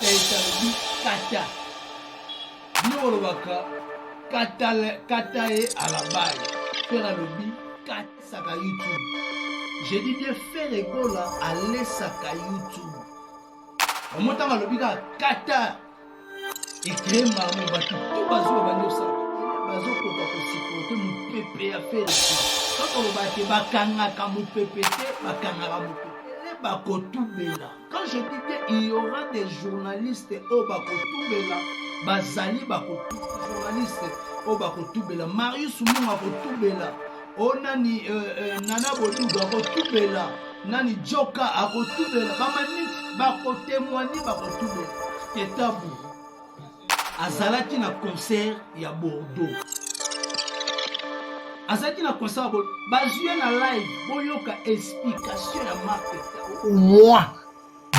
Alobi kata. Bino bolobaka kata kata ye alabaye. Ferre alobi katisaka YouTube. J'ai dit bien Ferre Gola alesaka YouTube. Omotanga alobi kaka kata. Ecree mamo bato to bazoba bandi osala bazokoka kosipote mopepe ya Ferre. Kaka olobaka te bakangaka mopepe te bakangaka mopepe te bakotubela. Quand je dis bien, il y aura des journalistes oyo bakotubela bazali bakotubela journaliste oyo bakotubela marius mungu akotubela o oh, nani euh, euh, nana boduga akotubela nani joka akotubela bamaniki bakotemwani bakotubela tetabu azalaki na concert ya bordeaux azalaki na concert ya bordeaux bazwi ye na live boyoka explication ya marke moi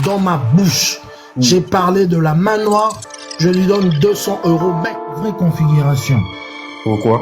dans ma bouche mm. j'ai parlé de la main noire je lui donne 200 euros bec vraie configuration pourquoi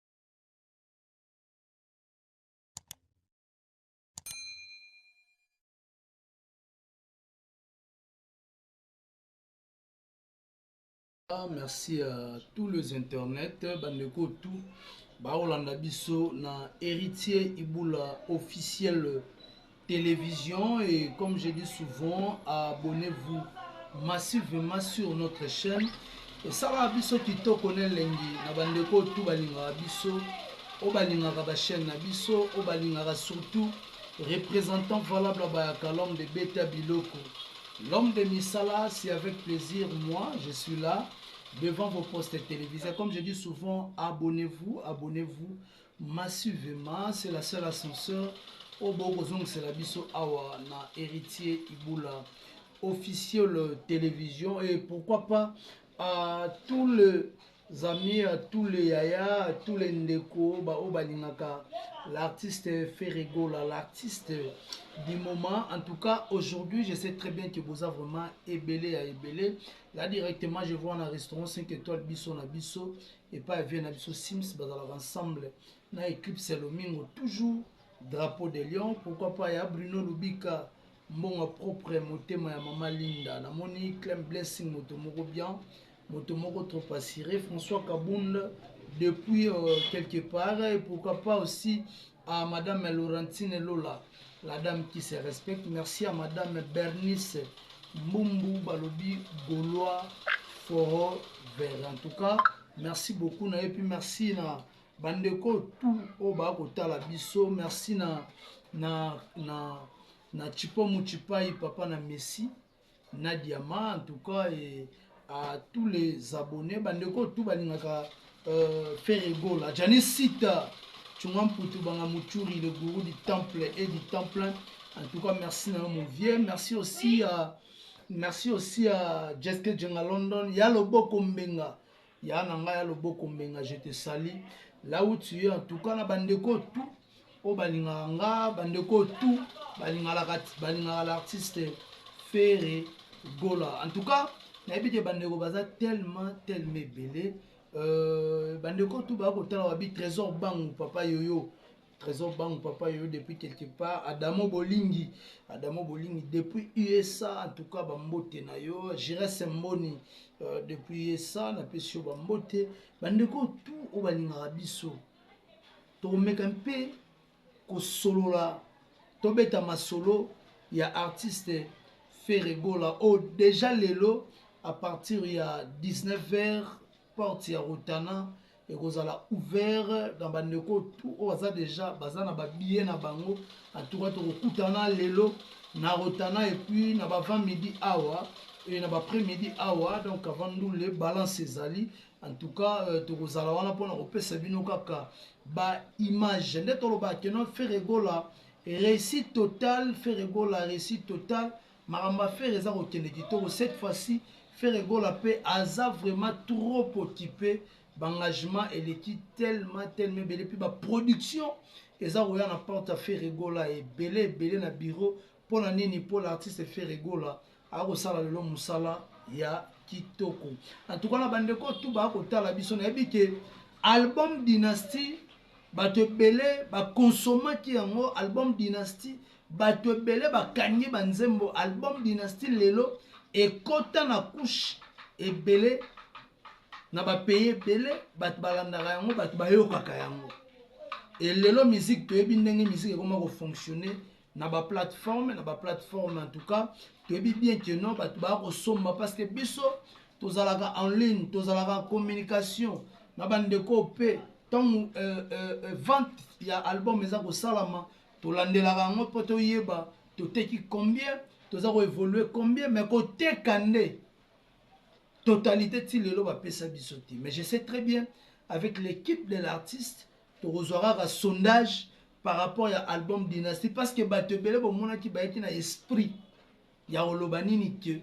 Ah, merci à tous les internets bandeko tout baolanda biso na héritier ibula officiel television et comme je dis souvent abonnez vous massivement sur notre chaîne esalaka biso kitoko na elengi na bandeko oyo tu balingaka biso oyo balingaka bachaîne na biso oyo balingaka surtout représentant valable bayaka l'homme de beta biloko l'homme de misala si avec plaisir moi je suis là devant vos postes télévisés comme je dis souvent abonnez vous abonnez vous Massivement c'est la seule ascenseur oyo bokoki kozongisela biso awa na Heritier Ibula officiel television et pourquoi pas à tous les amis à tous les yaya à tous les ndeko baoyo balingaka l'artiste Ferregola l'artiste du moment en tout cas aujourd'hui je sais très bien que boza vraiment ebele ya ebele là directement je vois na restaurant 5 étoiles biso na biso epai ya vie na biso sims bazalaka ensemble na eclipse ya lomingo toujours drapeau de lion pourquoi pas ya bruno lubika mbongo propre motema ya mama linda namoni clem blessing moto moko bien moto moko trop assuré françois kabund depuis euh, quelque part et pourquoi pas aussi Ah madame Laurentine Lola, la dame qui se respecte. Merci à madame Bernice Mbumbu Balobi Gaulois Foro Vert. En tout cas, merci beaucoup na et puis merci na bandeko tout oyo bakotala biso merci na na na na chipo muchipai papa na messi na diama en tout cas et à tous les abonnés bandeko tout balingaka euh, ferre gola jani sita tshunga mputu banga muchuri le gourou du temple et du temple en tout cas merci na yo mon vieux merci aussi à merci aussi à jeske jenga london ya loboko mbenga ya na ngai ya loboko mbenga je te sali là où tu es en tout cas na bandeko tout oyo balingaka nga bandeko tout balingaka balingaka l'artiste Ferre Gola en tout cas nayebi te bandeko baza tellement tellement ebele euh, bandeko tout baya kotala wabi trésor bangu papa yoyo trésor bangu papa yoyo depuis quelque part adamo bolingi adamo bolingi depuis usa en tout cas bambote na yo giresse mboni euh, depuis usa napesi yo bambote bandeko tout oyo balingaka biso Tokomeka mpe kosolola, tobeta masolo ya artiste Ferre Gola oyo oh, deja lelo à partir ya 19h porte ya Rotana ekozala ouvert na bandeko tout oyo baza deja baza na babillet na bango atuka tokokutana lelo na Rotana epuis na bavant midi awa e na bapres midi awa donc avant ndule balance ezali en tout cas euh, tokozala wana mpona kopesa bino kaka ba image nde tolobaka keno ferre gola réussite total ferre gola réussite total makambo ya ferre eza kokende kitoko cette fois-ci ferre gola mpe aza vraiment trop occupé baengagement eleki tellement tellement ebele mpe baproduction eza koya na porte ya ferre gola ebele ebele na bureau Pona nini po l'artiste Ferre Gola aya kosala lelo musala ya kitoko en tout cas na ba ndeko tout baya kotala biso nayebi ke album dynastie batu ebele ba consomaki yango album dynastie batu ebele bakangi ba nzembo album dynastie lelo ekota na couche ebele na ba pays ebele batu balandaka yango batu bayokaka yango et lelo musique toyebi ndenge musique ekoma ko fonctionner na ba plateforme na ba plateforme en tout cas toyebi bien que non bato baya kosomba parce que biso tozalaka en ligne tozalaka en communication na bandeko mpe ntango euh, euh, euh, vente ya album eza kosalama tolandelaka yango mpo toyeba toteki combien toza koévolue combien mais koteka nde totalité ti lelo bapesa biso te mais je sais très bien avec l'équipe de l'artiste Tokozwa kaka sondage par rapport ya album Dynastie parce que bato ebele bomonaki bayaki na esprit ya koloba nini que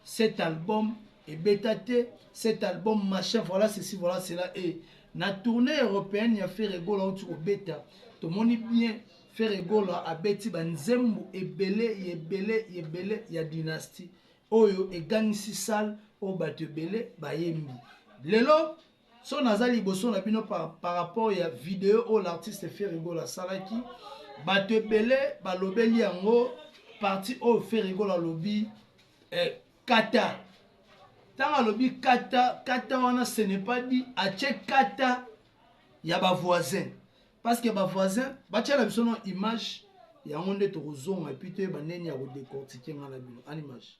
cet album ebeta te cet album machin voilà ceci voilà cela et na tournée européenne ya Ferre Gola outi kobeta tomoni bien Ferre Gola abeti banzembo ebele ebele ebele ya Dynastie oyo egangisi salle oyo bato ebele bayembi lelo Soki naza liboso na bino par, par rapport ya video oyo l'artiste Ferre Gola asalaki, bato ebele balobeli yango parti oyo Ferre Gola alobi eh, kata ntango alobi kata kata wana ce n'est pas dit atie kata ya bavoisin parce que bavoisin batiala biso na image yango nde tokozonga epuis toyeba ndeni ya kodecortike ngai na bino an image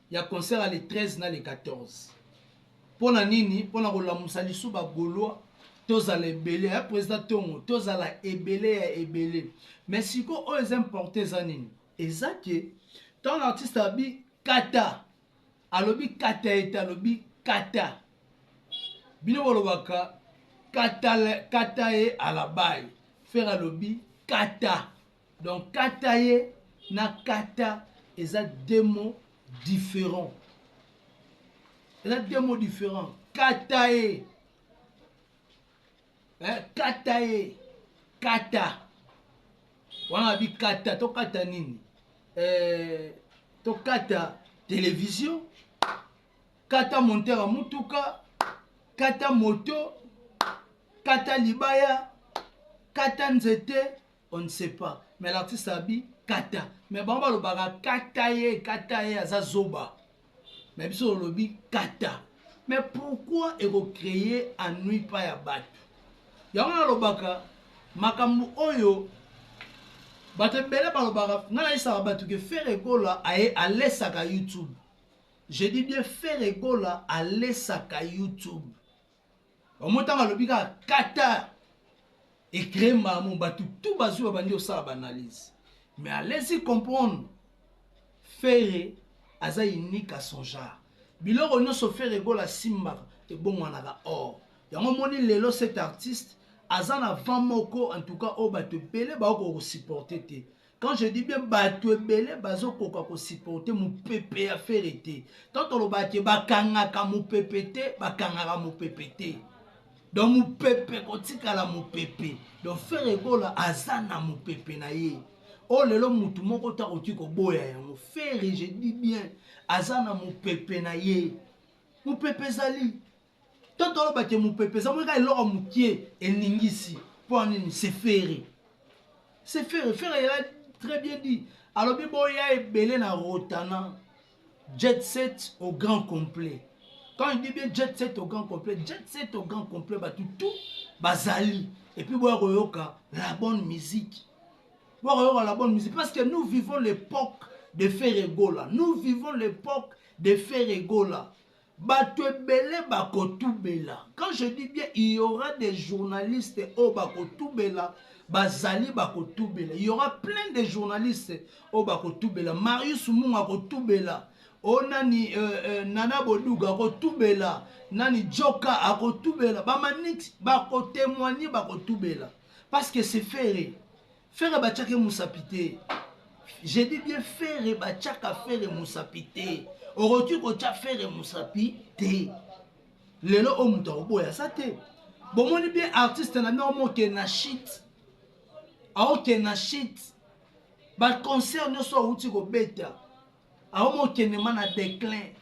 ya concert ya le 13 na le 14 mpo na nini mpo na kolamusa lisu ba gaulois tozala ebele ya president tongo tozala ebele ya ebele mais siko oyo eza importe eza nini eza ke ntango na artiste abi kata alobi kata ete alobi kata bino bolobaka kata, kata ye alabai fere alobi kata Donc kata ye na kata eza deux mots differents. Eza deux mots differents. Kata ye. Eh, kata ye. Kata. Wana bi kata to kata nini? Eh, to kata télévision, kata monteur ya mutuka, kata moto, kata libaya, kata nzete, on ne sait pas mais l'artiste abi kata mais bango balobaka kata ye kata ye aza zoba mais biso olobi kata mais pourquoi ekocreye annui pa ya bato yango nalobaka makambo oyo bato ebele balobaka ngai nayisaka bato ke fere ekola aye alesaka youtube je dis bien fere ekola alesaka youtube omotanga alobi kaka qatar ecree mamu bato tu bazwi babandi osala baanalyse mais alesi comprendre fere aza unique à son genre biloko nyonso fere egola asimbaka ebongwanaka or yango omoni lelo cet artiste aza na vent moko en tout cas oyo bato ebele baokoka kosupporte te quand je dis bien bato ebele bazokoka kosupporte mopepe ya fere te tant tolobaka ke bakangaka mopepe te bakangaka mopepe te donc mopepe kotikala mopepe donc fere gola aza na mopepe na ye oyo oh, lelo motu moko te akoki koboya yango fere je dis bien aza na mopepe na ye mopepe ezali To toloba ke mupepe eza moko eloko mukie eningisi po nini c'est ferre. C'est ferre, ferre il a très bien dit alobi boya ebele na rotana jet set au grand complet. Quand il dit bien jet set au grand complet, jet set au grand complet batu tout bazali et puis boya koyoka la bonne musique. Boya koyoka la bonne musique parce que nous vivons l'époque de Ferregola. Nous vivons l'époque de Ferregola. bato ebele bakotubela quand je dis bien il y aura des journalistes oyo bakotubela bazali bakotubela il y aura plein de journalistes oyo bakotubela marius munga akotubela o oh, nani euh, euh, nana boduga akotubela nani joka akotubela bamanix bakotemoigne bakotubela parce que c'est ferre Ferre bachake musapi te. J'ai dit bien Ferre bachaka Ferre musapi te. Okoki kocha Ferre musapi te. Lelo o mutu akoboya sa te. Bomoni bien artiste na bino moke na shit. Aoke na shit. Ba concert nyoso awuti kobeta. aomi okendema na declin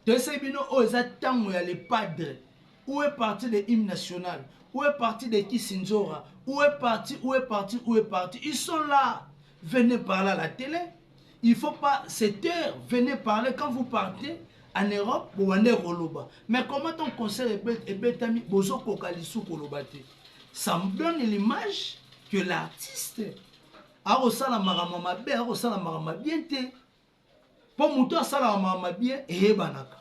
toyesaki bino oyo eza ntango ya le padre ou est parti de hymne national ou est parti de kisinzora ou est parti ou est parti ou est parti ils sont là venez parler à la télé il faut pas cette heure venez parler quand vous partez en europe bobande koloba mais comment ton concert ebetami bozokoka lisu koloba te ça me donne l'image que l'artiste akosala makambo ya mabe akosala makambo mabie te mpo moto asalaka makambo mabie eyebanaka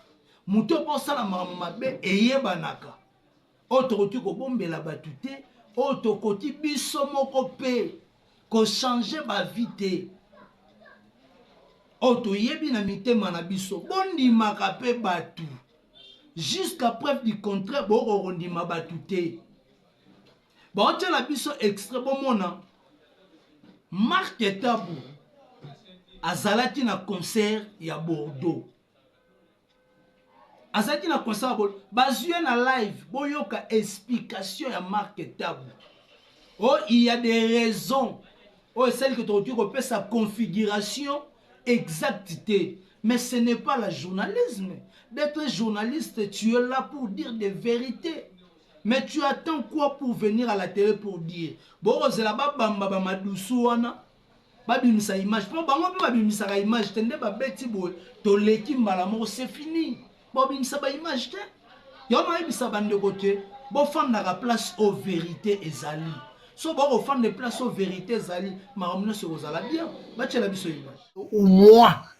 moto mpo osala makambo mabe eyebanaka oyo tokoki kobombela bato te oyo tokoki biso moko mpe kochange bavi te oyo toyebi na mitema na biso bondimaka mpe bato jusqu'à preuve du contraire bokokondima bato te Baotiela biso extrait bomona Marc Tabu azalaki na concert ya Bordeaux. Azalaki na concert ya Bordeaux. Bazwi ye na live boyoka explication ya Marc Tabu. Oh, il y a des raisons oyo esali ke tokoki kopesa configuration exacte te. Mais ce n'est pas la journalisme. D'être journaliste, tu es là pour dire des vérités. Mais tu attends quoi pour venir à la tele pour dire boko zela ba bamba ba madusu wana ba bimisa image po bango pe ba bimisaka image te nde ba beti boye to leki mbala moko c'est fini ba bimisa ba image te yo na yebisa ba ndeko te bo fandaka place au verite ezali so boko fanda place au verite ezali makambo nyonso ekozala bien ba tiela biso image au moins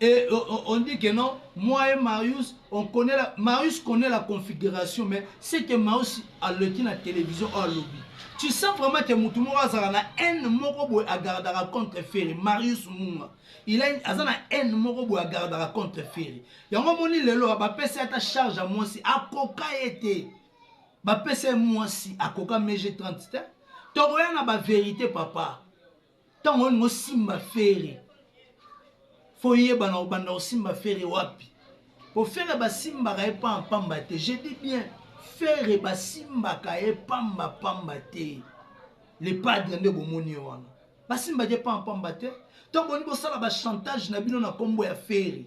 Et on dit que non, moi et Marius, on connait la, Marius connait la configuration, mais c'est que Marius a leki na télévision ou à lobby. Tu sens vraiment que mutu moko azala na haine moko boye agardaka contre Ferre, Marius Munga. Il a aza na haine moko boye agardaka contre Ferre. Yango moni lelo bapesi ata charge ya mwasi akoka ye te. Bapesi ye mwasi akoka meje 30 te. Tokoya na ba verite papa. Tango nini bosimba Ferre? Faut oyebana obanda kosimba Ferre wapi? Po Ferre basimbaka ye pamba pamba te. Je dis bien Ferre basimbaka ye pamba pamba te. Le padre nde bomoni ye wana. Basimbaka ye pamba pamba te. To boni bosala ba chantage na bino na kombo ya Ferre.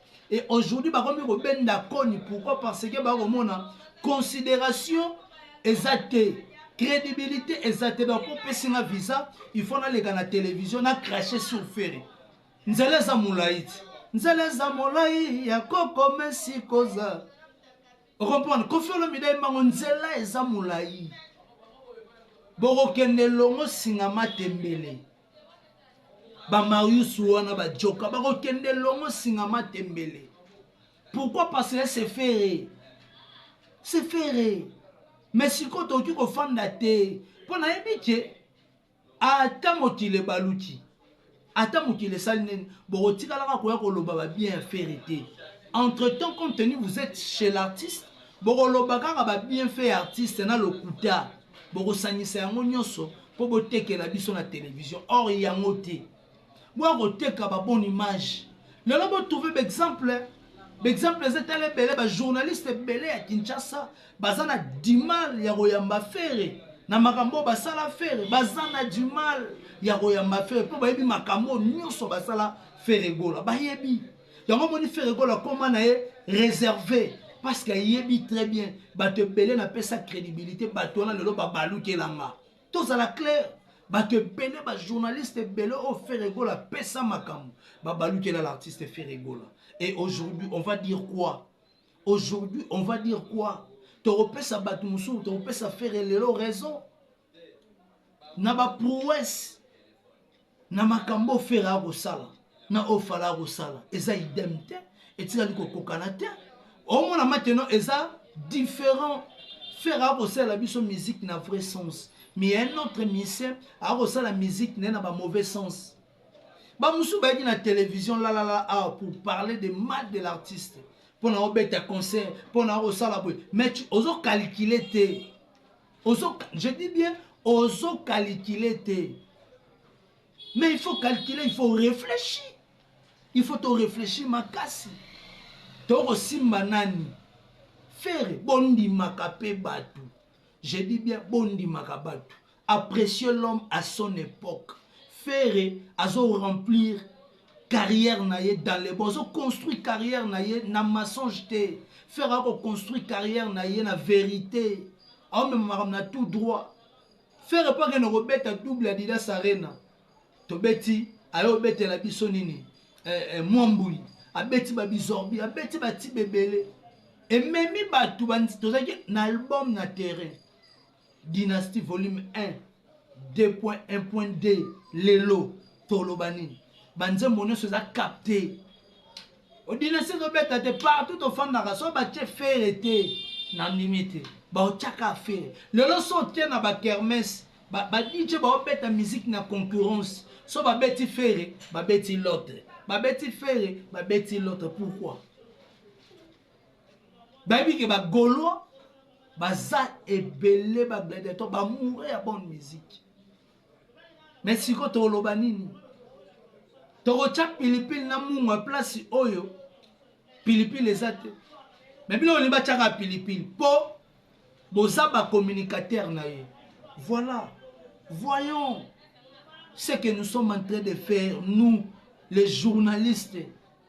Et aujourd'hui bakomi kobenda koni pourquoi parce que bakomona considération eza te crédibilité eza te donc opesi nga visa il faut naleka na télévision na crache sur ferre nzela eza molai ti nzela eza molai ya kokomesi koza okomprendre kofi olomide ayembango nzela eza molai bokokende elongo singa matembele bamarius wana bajoka bakokende longo singa matembele pourquoi parce que se fere se fere mais sikoyo tokoki kofanda te mpo nayebi ke ata mokili ebaluki ata mokili esali nini bokotikalaka koya koloba babien ya fere te entre temps compte tenu vous êtes chez l'artiste bokoloba kaka babienfait ya artiste na lokuta bokosangisa yango nyonso mpo botekela biso na televizio or yango te boya koteka babone image lelo botrouve baexemple baexemple eza etala ebele bajournaliste ebele ya kinshasa baza na dimal ya koyamba fere na makambo oyo basala fere baza na dimal ya koyamba fere mpo bayebi makambo oyo nyonso basala fere gola bayebi yango omoni ferre gola akoma na ye réservé parce que ayebi très bien bato ebele napesa crédibilité bato wana lelo babalukela nga tozala claire bato ebele bajournaliste ebele oyo feregola apesa makambo babalukela l'artiste feregola et aujourd'hui on va dire quoi aujourd'hui on va dire quoi tokopesa bato mosusu tokopesa fere lelo raison na ba prouesse na makambo ofela akosala na ofala akosala eza idem te etikali kokokana te omona mateno eza différent fere akosalela biso musique na vrai sens mais ya un autre musicien akosala musique naye na ba mauvais sens bamosusu bayaki na télévision lalala awa ah, pour parler de mal de l'artiste mpo na obeta concert mpo na akosala boye mais ozokalikile te ozo je dis bien ozo calcule te mais il faut calculer il faut réfléchir il faut to réfléchir makasi tokosimba nani fere bondimaka mpe bato je dis bien bondimaka bato apprécier l'homme à son époque fere azo remplir carrière na ye dans le bozo construire carrière na ye na mensonge te ferre ako construire carrière na ye na verité aomema makambo na tout droit ferre mpo akende kobeta double adidas arena tobeti aye obetela biso nini eh, eh, mwambuli abeti babizorbi abeti batiba ebele ememi bato tozalaki na album na terrain Dynastie volume un deux point un point deux lelo toloba nini ba nzembo nyonso eza capte odinasi ezobeta te partout tofandaka so batie fere te nandimi te baotiaka fere lelo so otie na bakermese badije ba baobeta miziki na concurrence so babeti fere babeti lotre babeti fere babeti lotre pourquoi bayebi ke ba gaulois baza ebele ba gladiateur ba mourre ya bonne musique me siko toloba nini tokotya pilipili na mungwa place oyo pilipili eza te me bino olingi batyaka pilipili mpo boza bacommunicateur na ye voilà voyons ce que nous sommes en train de faire nous les journalistes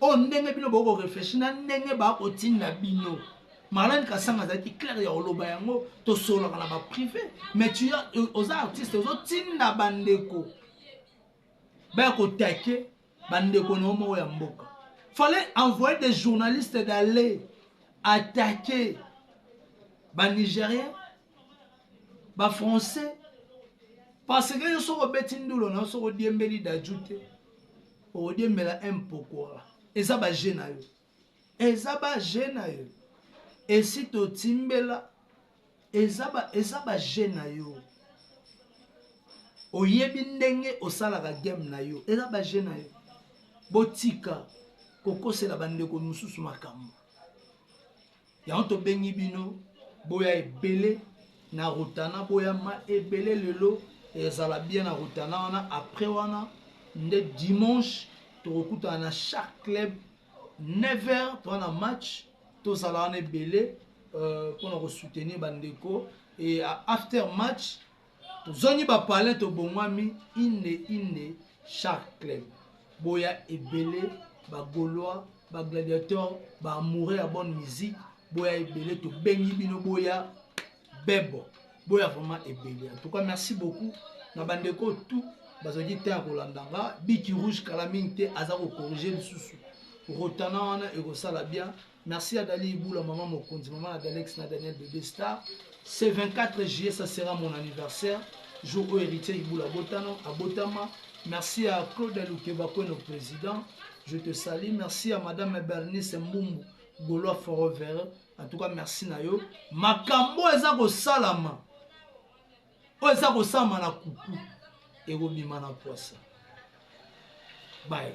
oyo ndenge bino bokoki koreflechi na ndenge bakotinda bino marlene kasanga azalaki claire ya koloba yango tosololaka na baprive mais tu euh, oza artiste ozotinda bandeko baya kotake bandeko na yo moko ya mboka fallait envoyer des journalistes d'aller attaquer banigérien ba français parce que yo soki obeti ndulo na yo soki odiembeli daju te okodiembela impokora eza baje na yo eza baje na yo esi totimbela eza ba, eza ba jeu na yo oyebi ndenge osalaka game na yo eza ba jeu na yo botika kokosela bandeko mosusu makambo yango tobengi bino boya ebele na rotana boya ma ebele lelo ezala bien na rotana wana après wana nde dimanche tokokutana na chaque club 9 heures toa na match tozala wana ebele mpona euh, kosoutenir bandeko e after match Tozongi ba palais tobongwami inde inde shark club boya ebele ba golois ba gladiator ba amoureux ya bonne musique boya ebele tobengi bino boya bebo boya vraiment ebele en tout cas merci beaucoup na bandeko tout bazalaki te ya kolanda nga biki rouge kala mingi te aza kokorige lisusu rotana wana ekosala bien Merci à Dali Ibula, Maman Mokonzi, Maman Adalex, na Daniel Bebe Star. Ce 24 juillet, ça sera mon anniversaire. Jour où héritier Ibula Botano, à Botama. Merci à Claude Alukeba, nos président. Je te salue. Merci à Madame Bernice Mbumbu, Golois Forever. En tout cas, merci Nayo. Makambo eza ko salama. Oyo eza ko salama na kuku. Ekobima na poisa. Bye.